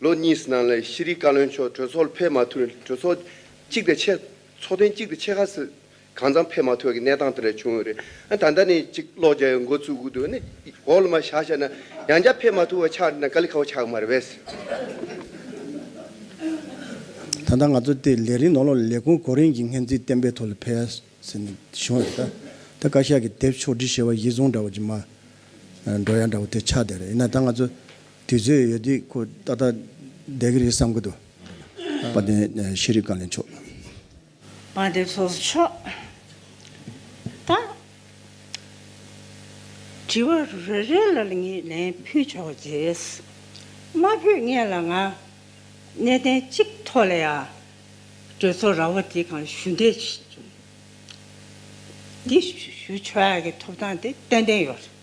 ལོ་གཉིས་ནང་ལ་ཤེས་རིག་བཀའ་བློན་མཆོག་གྲོས་ཚོགས་ལ་ཕེབས་མ་ཐུབ་ནས་གྲོས་ཚོགས་གཅིག་དང་ཆེ་ཚོགས་ཐེངས་གཅིག་དང་ཆེ་ཁག་སུ་གང་ཙམ་ཕེབས་མ་ཐུབ་ཀྱི་གནས་སྟངས་དེ་འདྲ་བྱུང་ཡོད་རེད། ད་ལྟ་ནས་གཅིག་ཀློག་རྒྱ་ཡོད་འགོ་བཙུགས་འདུག་ནི་གོ་ལ་མ་ཤག་ཤག་ན་ཡང་བསྐྱར་ཕེབས་མ་ཐུབ་བ་ཆགས་འདི་ན་ཀ་ལི་ཁ་བ་ཆགས་གི་མ་རེད་བས། ད་ལྟ་ང་ཚོ་དེ་ལས་རིང་ནོར་ལོག་ལས་ཁུངས་གོ་རིམ་གྱི་སྔན་རྩིས་གཏན་འབེབས་ཐོག་ལ་ཕེབས་ཡ་ཟེར་ནས་བྱུང་རེད་ད། ད་བཀའ་ཤག་གི་དེབ་ཕྱོགས་བསྒྲིགས་བྱས་པ་ཡིད་བཟུང་འདྲ་བོ་ཅིག་མ་འགྲོ་ཡ་འདྲ་བོ་དེ་ཆགས་བསྡད་རེད་ཡིན་ན་ད་ང་ཚོ་དུས་ཚོད་ཡོད་དུས་ཁོ་ཏག་ཏག་བསྡད་ཀྱི་རེད་བསམ་གྱི་འདུག་དཔལ་ལྡན་ཤེས་རིག་བཀའ་བློན་མཆོག། དཔལ་ལྡན་ཚོགས་གཙོ་མཆོག། ད། དྲི་བ་རེ་རེ་ལ་ངས་ལན་ཕུལ་ཆོག་རྗེས་མ་ཕུལ་ངེས་ལ་ང། གནས་བརྟན་གཅིག་ཐོག་ལ་ཡ། གྲོས་ཚོགས་ར་བ་དེ་གང་ཞུ་འདོད་བྱུང། འདི་ཞུ་ཆོག་ཡ་གི་ཐོབ་ཐང་དེ་ཏན་ཏན་ཡོད་རེད།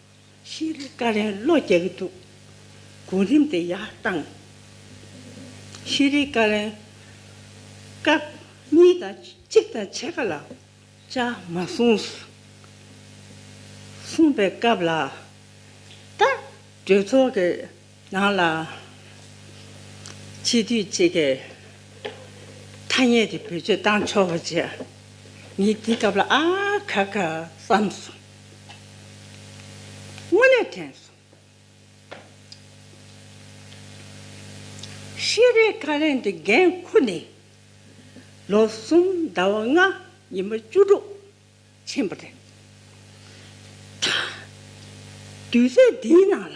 ཤེས་རིག་བཀའ་ལན་བློ་རྒྱ་གི་འདུག་གོ་རིམ་དེ་ཡག་བཏང། ཤེས་རིག་བཀའ་ལན། སྐབས་གཉིས་དང་གཅིག་དང་ཕྱེད་ཀ་ལ་བཅའ་མ་གསུངས། གསུངས་པའི་སྐབས་ལ་ད་གྲོས་ཚོགས་ཀྱི་ནང་ལ་སྤྱི་འཐུས་གཅིག་གིས་ཐ་སྙད་དེ་བེད་སྤྱོད་བཏང་ཆོག་པ་བྱས། ངས་དེ་སྐབས་ལ་ཨ་ཁ་ཁ་བསམ་སོང། སྔོན་ལས་དྲན། ཤེས་རིག་ཁ་ལས་འདི་འགན་འཁུར་ནས་ལོ་གསུམ་ཟླ་བ་ལྔ་ཉིན་མ་བཅུ་དྲུག་ཕྱིན་པ་རེད། དུས་ཚོད་འདིའི་ནང་ལ།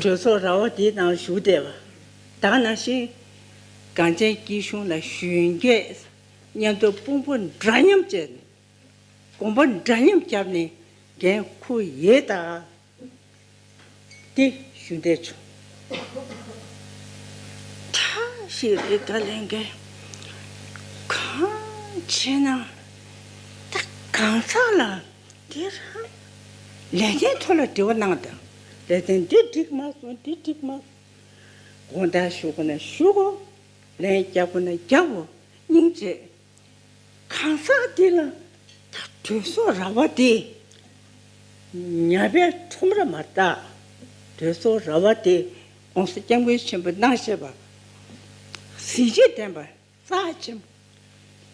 གྲོས་ཚོགས་ར་བ་འདི་ནང་ཞུགས་བདེ་བ་དང་ནང་བཞིན་གངས་ཅན་སྐྱིད་གཤོངས་ལ་གཞོན་སྐྱེས་སྙན་ཐོའི་དཔུང་པོ་འདྲ་མཉམ་བཅས་ནས་དགོངས་པ་འདྲ་མཉམ་བརྒྱབ་ནས་འགན་འཁུར་ཡོད། ཏེ་ཞུ་བདེ་བྱུང། གྲངས་ཞིག་རིགས་དང་ལེན་མཁན་གང་བྱེད་ན། དེ་གང་ཟག་ལ་དེ་རང་ལས་དོན་ཐོག་ལ་འབྲེལ་བ་གནང་དང་ལས་དོན་འདི་འགྲིག་མ་སོང་འདི་འགྲིག་མ་སོང་དགོངས་དག་ཞུ་དགོས་ན་ཞུའོ་ལན་རྒྱག་དགོས་ན་རྒྱག་འོ་སྙིང་རྗེ། གང་ཟག་འདི་ལ་དྲོད་སོགས་ར་བ་དེ། ཉྭ་བའི་ཁྲོམ་ར་མ་བརྟགས་དྲོད་སོགས་ར་བ་དེ། ྋགོང་ས ྋསྐྱབས་མགོན་ཆེན་པོ་སྣང་ཞེས་པ། གཟི་བརྗིད་ལྡན་པ་རྩ་ཆེན་པོ་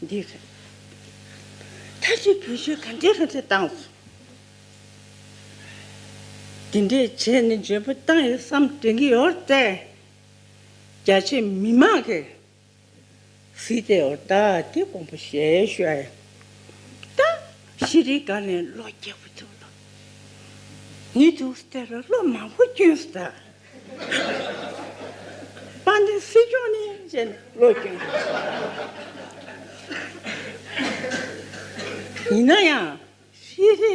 འདི། མཐའ་བཞི་བོད་ཆོལ་ག་འདྲའི་ལྷ་འདྲེ་བཏང་སོང། འདི་འདྲའི་བྱས་ནས་འཇོན་པོ་བཏང་ཡོད་བསམ་དྲན་གྱི་ཡོད་རེད། རྒྱ་ཆེ་མི་མང་གིས། ཧྲི་ཏའི་ཨོ་རྟ་དེ་ཀོང་པོ་ཞེས་བཤད། ད་ཤི་རི་ཀ་ནས་ལོ་བརྒྱད་པོ་ཐུབ་ལ། ནི་ཐུག་ས་དེ་ལ་ལོ་མང་པོ་སྐྱོན་ས་དང། པ་ནི་སྲིད་སྐྱོང་ནི་བྱས་ནས་ལོ་སྐྱོན་ས་དང། ཡིན་ན་ཡང་ཤི་རི།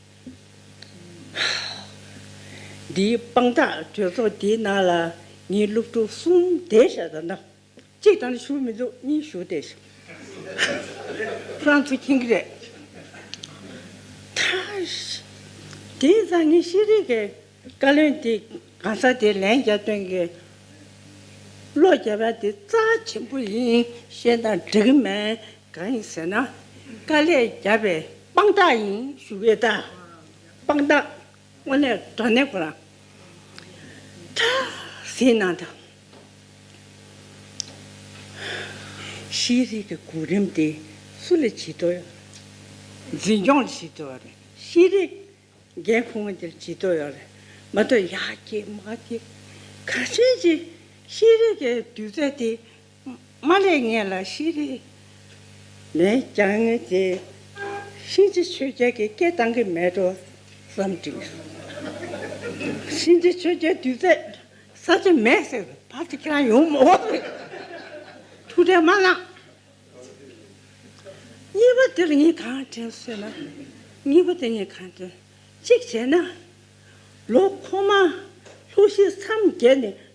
འདིའི་དཔང་རྟགས་གྲོས་ཚོགས་འདིའི་ནང་ལ་ངེད་སློབ་ཕྲུག་གསུམ་བསྡད་ཤག་དང་ན་གཅིག་དང་ན་ཞུགས་མི་འདུག་གཉིས་ཞུགས་བསྡད་ཤག་ཧྲང་ཚུ་ཁིང་གི་རེད། དེ་ནི་ཚང་གི་ཤེས་རིག་གི་བཀའ་བློན་དེ་གང་ཟག་དེ་ལན་བརྒྱ་ཐོན་གི་བློ་རྒྱ་བ་དེ་རྩ་ཆེན་པོ་ཡིན་ཤེས་ན་འགྲིག་གི་མེད་གང་ཡིན་ཟེར་ན། དཀའ་ལས་བརྒྱབ་པའི་དཔང་རྟགས་ཡིན། ཞུ་བའི་རྟགས། དཔང་རྟགས། དངོས་གནས་དགྲ་ནས་གོ་ལ། ཁྲ། ཟིན་ན་དང། ཤེས་རིག་གི་གོ་རིམ་དེ་སུ་ལ་ཇི་ལྟར་ཡོད། འཛིན་སྐྱོང་ལ་ཇི་ལྟར་ཡོད། ཤེས་རིག་འགན་འཁུར་བ་དེར་ཇི་ལྟར་ཡོད། མ་གཏོགས་ཡག་གི་མ་གི། ག་ཚོད་ཅིག་ཤེས་རིག་གི་དུས་ཚོད་དེ་མ་ལས་ངན་ལ་ཤི་རེ་མེད་ཀྱང་ངེས་ཏེ། གཤིན་རྗེ་ཆོས་རྒྱལ་གྱི་སྐད་གཏང་གི་མེད་འགྲོ་བསམ་དྲིས། གཤིན་རྗེ་ཆོས་རྒྱལ་དུས་ཚོད་ས་ཆ་མེད་ཟེར་བར་དུ་ཁྱེད་རང་ཡོང་མི་འོང་ཟེར། ཐུགས་ཁྲལ་མ་གནང། གཉིས་པ་དེར་ངས་གང་དྲན་ཟེར་ན། གཉིས་པ་དེ་ངས་གང་དྲན། གཅིག་བྱས་ན། ལོ་ཁོ་མ་ལྷོ་གཞིས་མཚམས་བརྒལ་ནས